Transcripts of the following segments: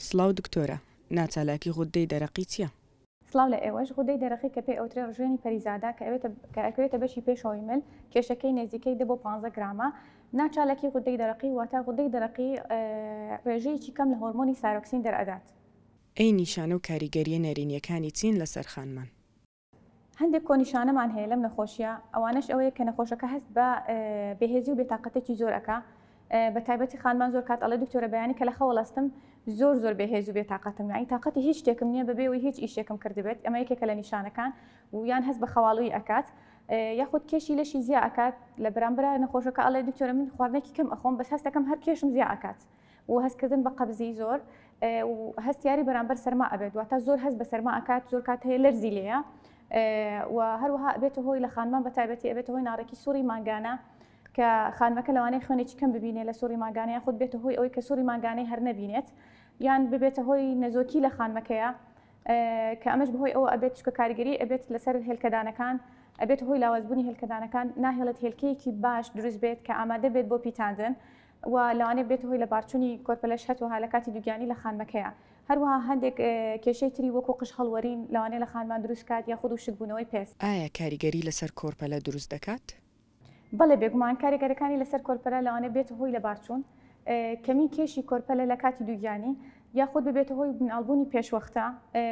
سڵاو دکتۆرە ناچالاکی غوددەی دەرەقی چیە؟ سڵاو لە ئێوەش، غودەی دەرەقی کە پێی ئەوترێ ڕژێنی پەریزادە کە ئەوێتە کە ئەکەوێتە بەشی پێشەوەی مل کێشەکەی نێزیکەی دە بۆ پانزە گرامە ناچالاکی غودەی دەرەقی واتا غودەی دەرەقی ڕێژەیەکی کەم لە هۆرمۆنی سارۆکسین دەرئەدات. ئەی نیشانە و کاریگەریە نەرینیەکانی چین لەسەر خانمان؟ هەندێک کۆنیشانەمان هەیە لەم نەخۆشیە ئەوانەش ئەوەیە کە نەخۆشەکە هەست بە بەهێزی و بێتاقەتێکی زۆر ئەکا بە تایبەتی خانمان زۆر کات ئەڵێ دکتۆرە بەیانی کە لە خەوەڵستم زۆر زۆر بەهێز و بێتاقەتم یانی تااقەتی هیچ شتێکم نییە بەبێ و هیچ ئیشێکم کردبێت ئەمە یەکێکە لە نیشانەکان و یان هەست بە خەواڵوی ئەکات یاخود کێشی لەشی زیاکات لە برامبرا نەخۆشەکە ئەڵێ دکتۆرە من خواردنێکی کەم ئەخۆم بەس هەستەکەم هەر کێشم زیاکات و هەست کردن بە قەبزی زۆر و هەستیاری بەرامبەر سەرما ئەبێت واتە زۆر هەست بە سەرما ئەکات زۆر کات هەیە لەرزی لێە و هەروەها ئەبێتە هۆی لە خانمان بە تایبەتی ئەبێتە هۆی ناڕێکی سووری مانگانە کە خانمەکە لەوانەیە خوێنێکی کەم ببینێت لە سووری مانگانەیە خود بێتە هۆی ئەوەی کە سووری مانگانەی هەر نەبینێت یان ببێتە هۆی نەزۆکی لە خانمەکەیە کە ئەمەش بەهۆی ئەوە ئەبێت چکە کاریگەری ئەبێت لەسەر هێلکەدانەکان ئەبێت هۆی لاوازبوونی هێلکەدانەکان ناهێڵێت هێلکەیەکی باش دروست بێت کە ئامادە بێت بۆ پیتاندن و لەوانەیە ببێتە هۆی لەبارچوونی کۆرپەلەش هەتوەها لە کاتی دووگیانی لە خانمەکەیا هەروەها هەندێک کێشەی تری وەکو قژ هەڵوەرین لەوانەیە لە خانمان دروست کات یاخود وشکبوونەوەی پێست. ئایا کاریگەری لەسەر کۆرپەلە دروست دەکات؟ بەڵێ بێگومان کاریگەرەکانی لەسەر کۆرپەلە لەوانەیە ببێتە هۆی لەبارچوون کەمی کێشی کۆرپەلە لە کاتی دووگیانی یاخود ببێتە هۆی مناڵبوونی پێشوەختە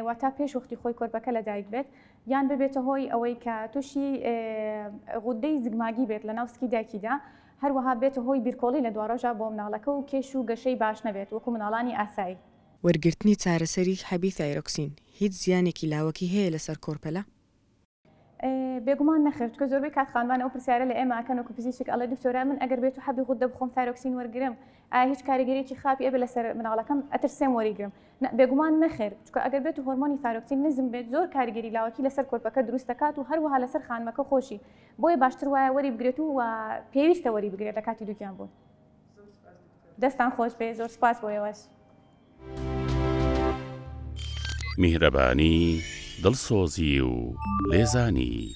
واتا پێش وەختی خۆی کۆرپەکە لە دایک بێت یان ببێتە هۆی ئەوەی کە تووشی غودەی زگماگی بێت لە ناو سکی دایکیدا هەروەها بێتە هۆی بیرکۆڵی لە دواڕۆژا بۆ مناڵەکە و کێش و گەشەی باش نەبێت وەکو مناڵانی ئاسایی. وەرگرتنی چارەسەری حەبی ثایرۆکسین هیچ زیانێکی لاوەکی هەیە لەسەر کۆرپەلە؟ بێگومان نەخێر چونکە زۆربەی کات خانمان ئەو پرسیارە لە ئێمە ئەکەن وەکو پزیشک ئەڵێ دکتۆرە من ئەگەر بێتو حەبی غوددە بخۆم ثایرۆکسین وەرگرم ئایا هیچ کاریگەریەکی خراپی ئەبێت لەسەر مناڵەکەم ئەترسێم وەریگرم نا بێگومان نەخێر چونکە ئەگەر بێتو هۆرمۆنی ثایرۆکسین نزم بێت زۆر کاریگەری لاوەکی لەسەر کۆرپەکە دروست دەکات و هەروەها لەسەر خانمەکە خۆشی بۆیە باشتر وایە وەری بگرێت و پێویستە وەری بگرێت لە کاتی دووگیان بوون دەستان خۆش بێ زۆر سپاس بۆ ئێوەش میهرەبانی دڵسۆزی و لێزانی